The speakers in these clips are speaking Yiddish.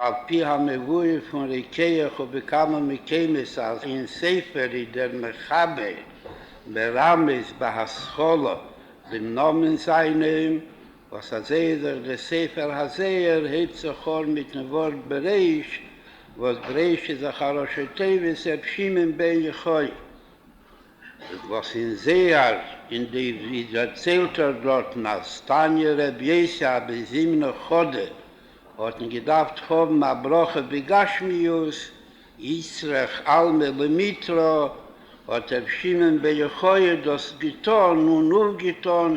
על פי המבואר פון רוקח ובכמה מקומות אז אין ספר איז דער מחבר מרמז בהשכלה דעם נאמען זיינעם, וואס אזוי איז אויך דער ספר הזהר הייבט זיך אן מיטן ווארט ברעש, וואס ברעש איז דאך א ראשי תיבות ר' שמעון בן יוחאי. וואס אין זייער אין די ווי דערציילט ער דארטן אז תניא רב יוסי א בן זימנא חדא האטן געדארפט האבן א ברכה בגשמיות יצרך עלמא למיתרא האט ר' שמעון בר יוחאי דאס געטאן און אויפגעטאן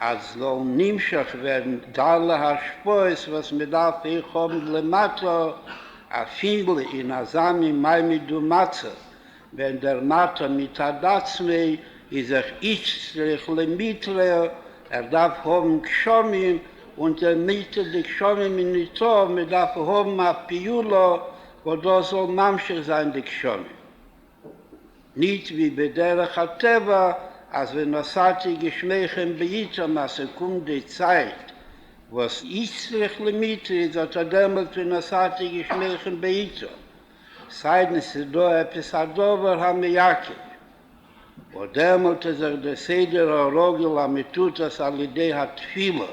אז זאל נמשך ווערן דארלע השפעות וואס מען דארף אויך האבן למטה, א פינדל אין אזא מין מעמד ומצב, ווען דער מטה מצד עצמו איז זיך איצט צריך למיטרא, ער דארף האבן גשמים, און דער מיטה דגשמים איז ניטא, מען דארף האבן א פעולה וואס דאס זאל ממשיך זיין די גשמים. ניט ווי בדרך הטבע אז ווען נשאתי גשמיכם בעיתם אז ס'קומט די צייט וואס איז צריך למיתה איז אטא דעמאלט ווען נשאתי גשמיכם בעיתם, סיידן ס'איז דא עפעס א דבר המעכב, וואס דעמאלט איז זיך די סדר הרגיל המתוטס על ידי התפילה.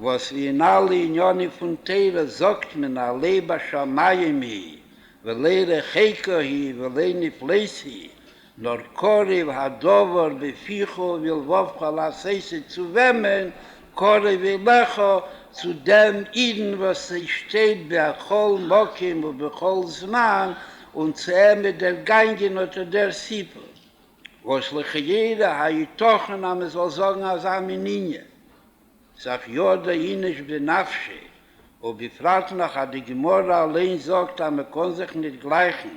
וואס ווי אין אלע עניינים פון תורה זאגט מען א לב אשר מים היא ולא רחוקה היא ולא נפלאת היא נאר קרוב הדבר בפיך ובלבבך לעשות עס צו וועמען? קרוב אליך, צו דעם אידן וואס ער שטייט בכל מקום ובכל זמן און צו אים איז דערגאנגען אט דער סיפור. וואס לכאורה היתכן אז מען זאל זאגן אזא מין ענין? סך יא דא איניש בנפשי, ובפרט נאך אז די גמרא אליין זאגט אז מען קען זיך נישט גלייכן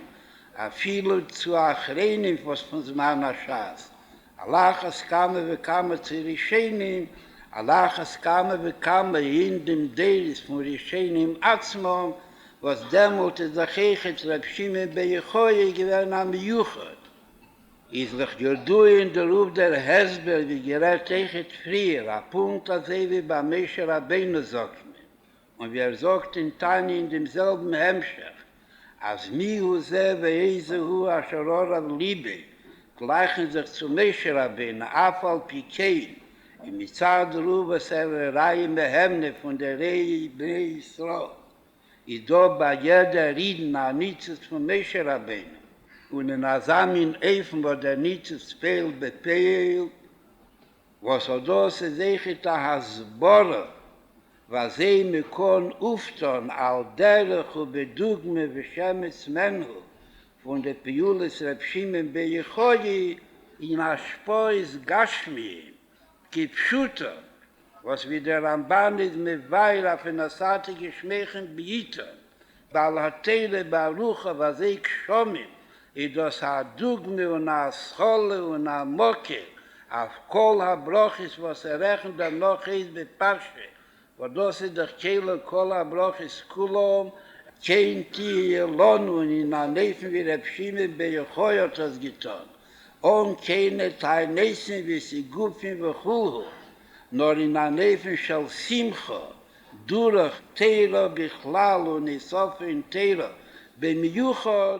אפילו צו אחרונים וואס פון זמן השס, על אחת כמה וכמה צו ראשונים, על אחת כמה וכמה אין דעם דורות פון ראשונים עצמם, וואס דעמאלט איז דאך עכת ר' שמעון בר יוחאי געווען א מיוחד. איז לך ידוע אין די רב דער הסבר ווי גערעדט אייכעט פריער, א פונקט אזוי ווי ביי משה רבינו זאגט מען, און ווי ער זאגט אין תניא אין דעם זעלבן המשך, אז מי הוא זה ואיזה הוא אשר ארב ליבי, גלייכן זיך צו משה רבינו אף על פי כן, און מצד רב וואס ער איז ראי' מהימנה פון די ראי' בני ישראל. איז דא ביי יעדער אידן א ניצוץ פון משה רבינו, און אין אזא מין אופן וואס דער ניצוץ פעלט בפועל, וואס אט דאס איז עכט א הסברה וזה מכאן אופטון על דרך ובדוגמא ושמץ מנהו פון די פעולות ר' שמעון בר יוחאי אין השפעות גשמיים כפשוטו, וואס ווי דער רמבן איז מבאר אויף אין עשרתי גשמיכם בעיתו, בעל התורה ברוך הוא הזה גשמים, איז דאס א דוגמא און א השכלה און א מקור אויף כל הברכות וואס ער רעכנט דערנאך אויס בפרשה וואס דאס איז דאך כאילו כל הברכות כולם כן תהיה לנו אין אן אופן ווי ר' שמעון בר יוחאי האט עס געטון, אן קיינע תעניתים וסיגופים וכולהו, נאר אין אן אופן של שמחה, דורך תורה בכלל און איסופין תורה במיוחד.